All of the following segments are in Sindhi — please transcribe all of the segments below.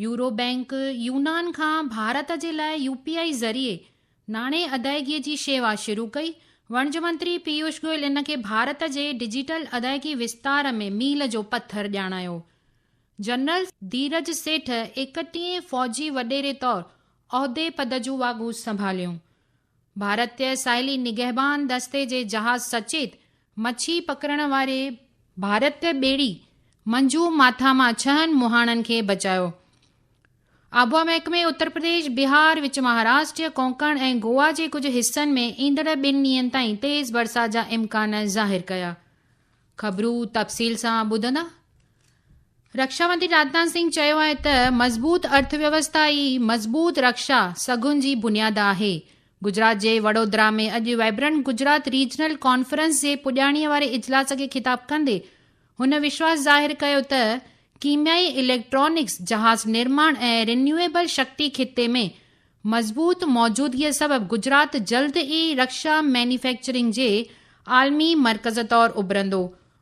يورو بئنڪ يونان کان ڀارت جي لاء يو پي آء ذريعي ناڻي ادائگي جي شيوا شروع ڪئي، وڻج منتري پيوش گوئل ان کي ڀارت جي ڊجيٽل ادائگي وستار ۾ ميل جو پٿر ڄاڻايو. جنرل ڌيرج سيٺ ايڪٽيهين فوجي وڏيري طور عهدي پد جون واڳون سنڀاليون. ڀارتي ساحلي نگهبان دستي جي جهاز سچيت مڇي پڪڙڻ واري ڀارتي ٻيڙي منجو ماٿا مان ڇهن مهاڻن کي بچايو. آبوا محڪمي اترپرديش، بهار، وچ مهاراشٽر، ڪونڪڻ ۽ گوا جي ڪجهه حصن ۾ ايندڙ ٻن ڏينهن تائين تيز برسات جا امڪان ظاهر ڪيا. خبرون تفصيل سان ٻڌندا. رکشا منتري راجناٿ سنگهه چيو آهي ته مضبوط ارٿ ويوسٿا ئي مضبوط رکشا سگهن جي بنياد آهي. گجرات جي وڏودرا ۾ اڄ وائبرنٽ گجرات ريجنل ڪانفرنس جي پڄاڻيء واري اجلاس کي خطاب ڪندي هن وشواس ظاهر ڪيو ته ڪيميائي اليڪٽرانڪس، جهاز نرماڻ ۽ رينيويبل شڪتي خطي ۾ مضبوط موجودگيء سبب گجرات جلد ئي رکشا مينيفيڪچرنگ جي عالمي مرڪز طور اڀرندو.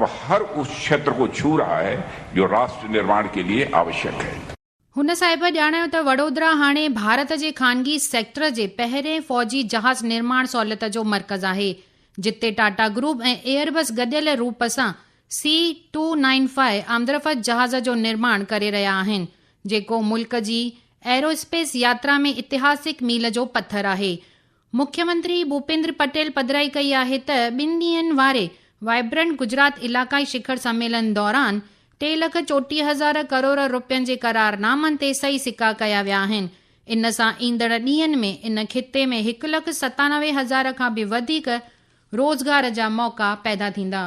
اب هر اس ڇيتر ڪو ڇو رها هي جو راشٽر نرماڻ ڪي ليئي آوشيڪ هي. هن صاحب ڄاڻايو ته وڏودرا هاڻي ڀارت جي خانگي سيڪٽر جي پهرين فوجي جهاز نرماڻ سهولت جو مرڪز آهي، جتي ٽاٽا گروپ ۽ ايئربس گڏيل روپ سان سي ٽو نائين فائيو آمدرفت جهاز جو نرماڻ ڪري رهيا آهن، جيڪو ملڪ جي ايرواسپيس ياترا ۾ اتهاسڪ ميل جو پٿر آهي. مکيمنتري ڀوپيندر پٽيل پڌرائي ڪئي آهي ته ٻن ڏينهن واري وائبرنٽ گجرات علائقائي شکر سميلن دوران ٽي لک چوٽيهه هزار ڪروڙ رپين جي قرارنامن تي صحيح سڪا ڪيا ويا آهن، ان سان ايندڙ ڏينهن ۾ ان خطي ۾ هڪ لک ستانوي هزار کان به وڌيڪ روزگار جا موقعا پيدا ٿيندا.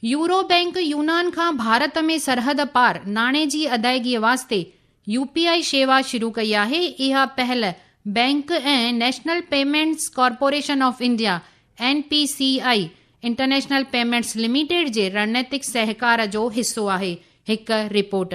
يورو بئنڪ يونان کان ڀارت ۾ سرحد پار ناڻي جي ادائگي واسطي يو پي آء شيوا شروع ڪئي آهي، اها پهل bank ۽ national payments corporation of India, N P C I, international payments limited جي رڻنيتڪ سهڪار جو حصو آهي، هڪ رپورٽ.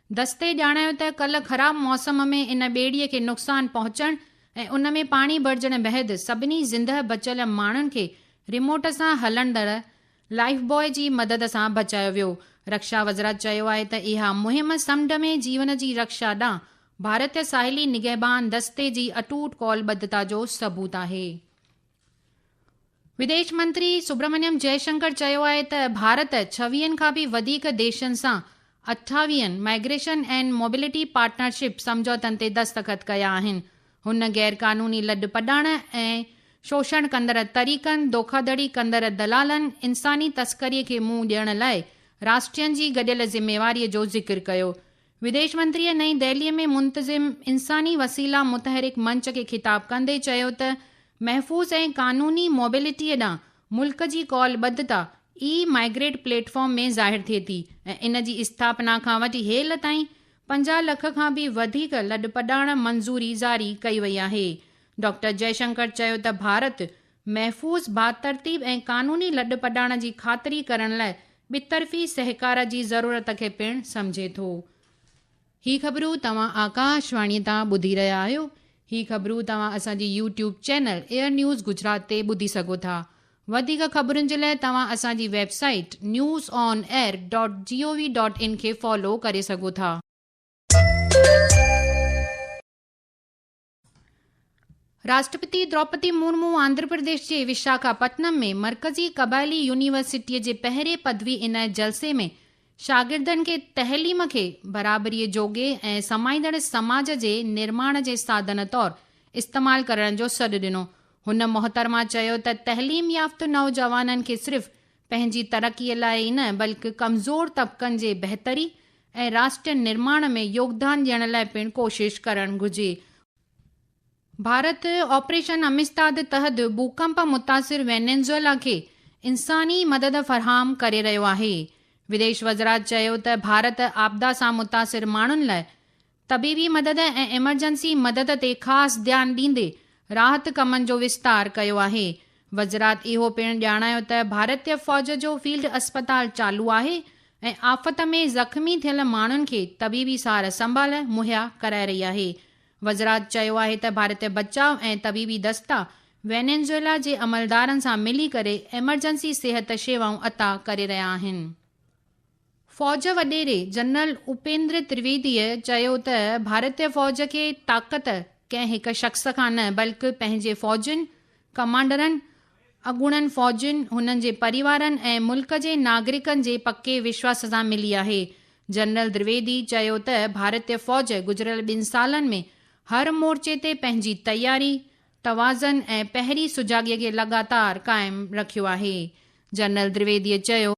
دستي ڄاڻايو ته ڪلهه خراب موسم ۾ ان ٻيڙي کي نقصان پهچڻ ۽ ان ۾ پاڻي ڀرجڻ بعد سڀني زندهه بچيل ماڻهن کي ريموٽ سان هلندڙ لائيف باء جي مدد سان بچايو ويو. رڪشا وزرا چيو آهي ته اها مهم سمنڊ ۾ جيون جي رڪشا ڏانهن ڀارتي ساحلي نگهبان دستي جي اٽوٽ ڪول ٻڌتا جو ثبوت آهي. ويديش منتري سبرامنيم جئي شنڪر چيو آهي ته ڀارت ڇويهن کان به وڌيڪ ديشن سان اٺاويهن مائگريشن اينڊ موبيلٽي پارٽنرشپ سمجهوتن تي دستخط ڪيا آهن. هن غيرقانوني لڏ پڏاڻ ۽ شوشڻ ڪندڙ طريقن، دوکاڌڙي ڪندڙ دلالن، انساني تسڪري کي منهن ڏيڻ لاء راشٽرين جي گڏيل ذميواري جو ذڪر ڪيو. ويديش منتريء نئين دهليء ۾ منتظم انساني وسيلا متحرڪ منچ کي خطاب ڪندي چيو ته محفوظ ۽ قانوني موبيلٽيء ڏانهن ملڪ جي قول ٻڌتا اي مائيگريٽ پليٽ فارم ۾ ظاهر ٿئي ٿي ۽ ان جي اسٿاپنا کان وٺي هيل تائين پنجاهه لک کان به وڌيڪ لڏپلاڻ منظوري جاري ڪئي وئي آهي ڊاڪٽر جئي شنڪر چيو ته ڀارت محفوظ، باترتيب ۽ قانوني لڏپلاڻ جي خاطري ڪرڻ لاء ٻطرفي سهڪار جي ضرورت کي پڻ سمجهي ٿو. هي خبرون توهان آڪاشواڻي تان ٻڌي رهيا آهيو. هي خبرون توهان اسان جي YouTube channel Air news Gujarat تي ٻڌي سگهو ٿا. وڌيڪ خبرن جي لاء توهان اسان جي website news on air dot G O V dot in کي فالو ڪري سگهو ٿا. راشٽرپتي دروپدي مورمو آنڌراپرديش جي وشاکاپٽنم ۾ مرڪزي قبائلي يونيورسٽيء جي پهرين پدوي عنايت جلسي ۾ شاگردن کي تعليم کي برابريء جوڳي ۽ سمائيندڙ سماج جي نرماڻ جي ساڌن طور استعمال ڪرڻ جو سڏ ڏنو. هن محترمه چيو ته تعليم يافته نوجوانن کي صرف پنهنجي ترقيء لاء ئي نه بلڪ ڪمزور طبقن جي بهتري ۽ راشٽر نرماڻ ۾ يوگدان ڏيڻ لاء پڻ ڪوشش ڪرڻ گهرجي. ڀارت آپريشن امستاد تحت ڀوڪمپ متاثر وينيزويلا کي انساني مدد فراهم ڪري رهيو آهي. وديش وزرات چيو ته ڀارت آپدا سان متاثر ماڻهن لاء طبيبي مدد ۽ ايمرجنسي مدد تي خاص ڌيان ڏيندي راحت ڪمن جو وستار ڪيو آهي. وزرات اهو پڻ ڄاڻايو ته ڀارتيه فوج جو فيلڊ اسپتال چالو آهي ۽ آفت ۾ زخمي ٿيل ماڻهن کي طبيبي سار سنڀال مهيا ڪرائي رهي آهي. وزرات چيو آهي ته ڀارتيه بچاء ۽ طبيبي دستا وينيزويلا جي عملدارن سان ملي ڪري ايمرجنسي صحت شيوائون عطا ڪري رهيا آهن. فوج وڏيري جنرل اپيندر ترويديء چيو ته ڀارتي فوج کي طاقت ڪنهن هڪ شخص کان نه بلڪ پنهنجي فوجين، ڪمانڊرن، اڳوڻن فوجين، هنن جي پريوارن ۽ ملڪ جي ناگرڪن جي پڪي وشواس سان ملي آهي. جنرل درويدي چيو ته ڀارتي فوج گذريل ٻن سالن ۾ هر مورچي تي پنهنجي تياري، توازن ۽ پهري سجاڳيء کي لڳاتار قائم رکيو آهي. جنرل درويديء چيو.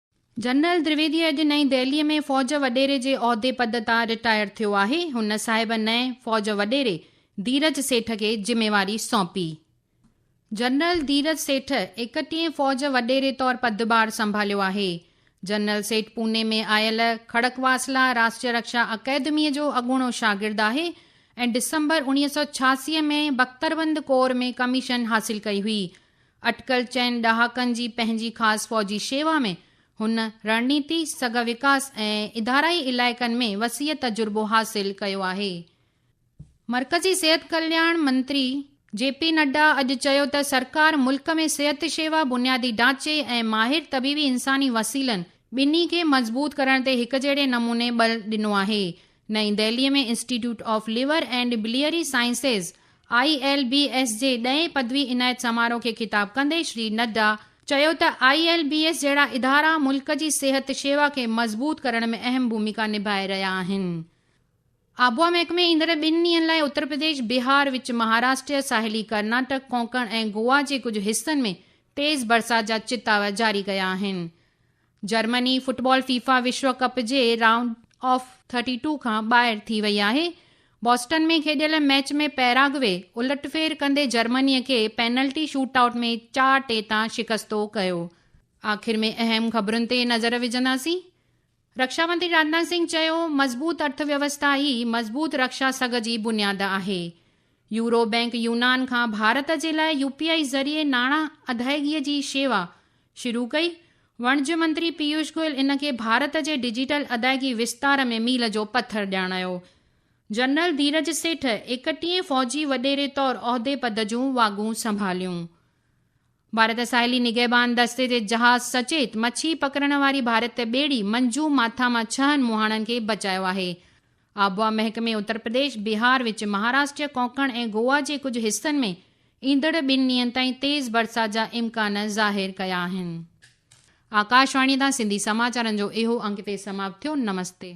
جنرل دريويدي اڄ نئين دهلي ۾ فوج وڏيري جي عهدي پد تان رٽائر ٿيو آهي، هن صاحب نئين فوج وڏيري ڌيرج سيٺ کي ذميواري سونپي. جنرل ڌيرج سيٺ ايڪٽيهين فوج وڏيري طور پدڀار سنڀاليو آهي. جنرل سيٺ پوني ۾ آيل کڙڪواسلا راشٽريه رڪشا اڪيدميء جو اڳوڻو شاگرد آهي ۽ ڊسمبر اوڻيهه سؤ ڇياسي ۾ بختربند ڪور ۾ ڪميشن حاصل ڪئي هئي. اٽڪل چئن ڏهاڪن جي پنهنجي خاص فوجي شيوا ۾، هن رڻنيتي، سگهه وڪاس ۽ ادارائي علائقن ۾ وسيع تجربو حاصل ڪيو آهي. مرڪزي صحت ڪلياڻ منتري جي پي نڊا اڄ چيو ته سرڪار ملڪ ۾ صحت شيوا، بنيادي ڍانچي ۽ ماهر طبيبي انساني وسيلن ٻنهي کي مضبوط ڪرڻ تي هڪجهڙي نموني ٻل ڏنو آهي، نئين Delhi ۾ institute of liver and biliary sciences, I L B S, جي ڏهين پدوي عنايت سماروهه کي خطاب ڪندي شري نڊا چيو ته آء ايل بي ايس جهڙا ادارا ملڪ جي صحت شيوا کي مضبوط ڪرڻ ۾ اهم ڀوميڪا نڀائي رهيا آهن. آبوا محڪمي ايندڙ ٻن ڏينهن لاء اترپرديش، بهار، وچ مهاراشٽر، ساحلي ڪرناٽڪ، ڪونڪڻ ۽ گوا جي ڪجهه حصن ۾ تيز برسات جا چتاوا جاري ڪيا آهن. جرمني فٽبال فيفا وشو ڪپ جي رائونڊ آف ٿرٽي ٽو کان ٻاهر ٿي وئي آهي، بوسٽن ۾ کيڏيل ميچ ۾ پيراگوي الٽفير ڪندي جرمني کي پينلٽي شوٽ آئوٽ ۾ چار ٽي تان شڪستو ڪيو. آخر ۾ اهم خبرن تي نظر وجهنداسين. رڪشا منتري راجناٿ سنگهه چيو مضبوط ارٿ ويوسٿا ئي مضبوط رڪشا سگهه جي بنياد آهي. يورو بئنڪ يونان کان ڀارت جي لاء يوپي آئي ذريعي ناڻا ادائگي جي شيوا شروع ڪئي، وڻج منتري پيوش گوئل ان کي ڀارت جي ڊجيٽل ادائگي وستار ۾ ميل جو پٿر ڄاڻايو. جنرل ڌيرج سيٺ ايڪٽيهين فوجي وڏيري طور عهدي پد جون واڳون سنڀاليون. ڀارت ساحلي نگهبان دستي جي جهاز سچيت مڇي پڪڙڻ واري ڀارت ٻيڙي منجو ماٿا مان ڇهن مهاڻن کي بچايو آهي. آبهوا محڪمي اترپرديش، بهار وچ مهاراشٽر، ڪونڪڻ ۽ گوا جي ڪجهه حصن ۾ ايندڙ ٻن ڏينهن تائين تيز برسات جا امڪان ظاهر ڪيا آهن. آڪاشواڻي تان سنڌي سماچارن جو اهو انڪ هتي سماپت ٿيو. نمستي.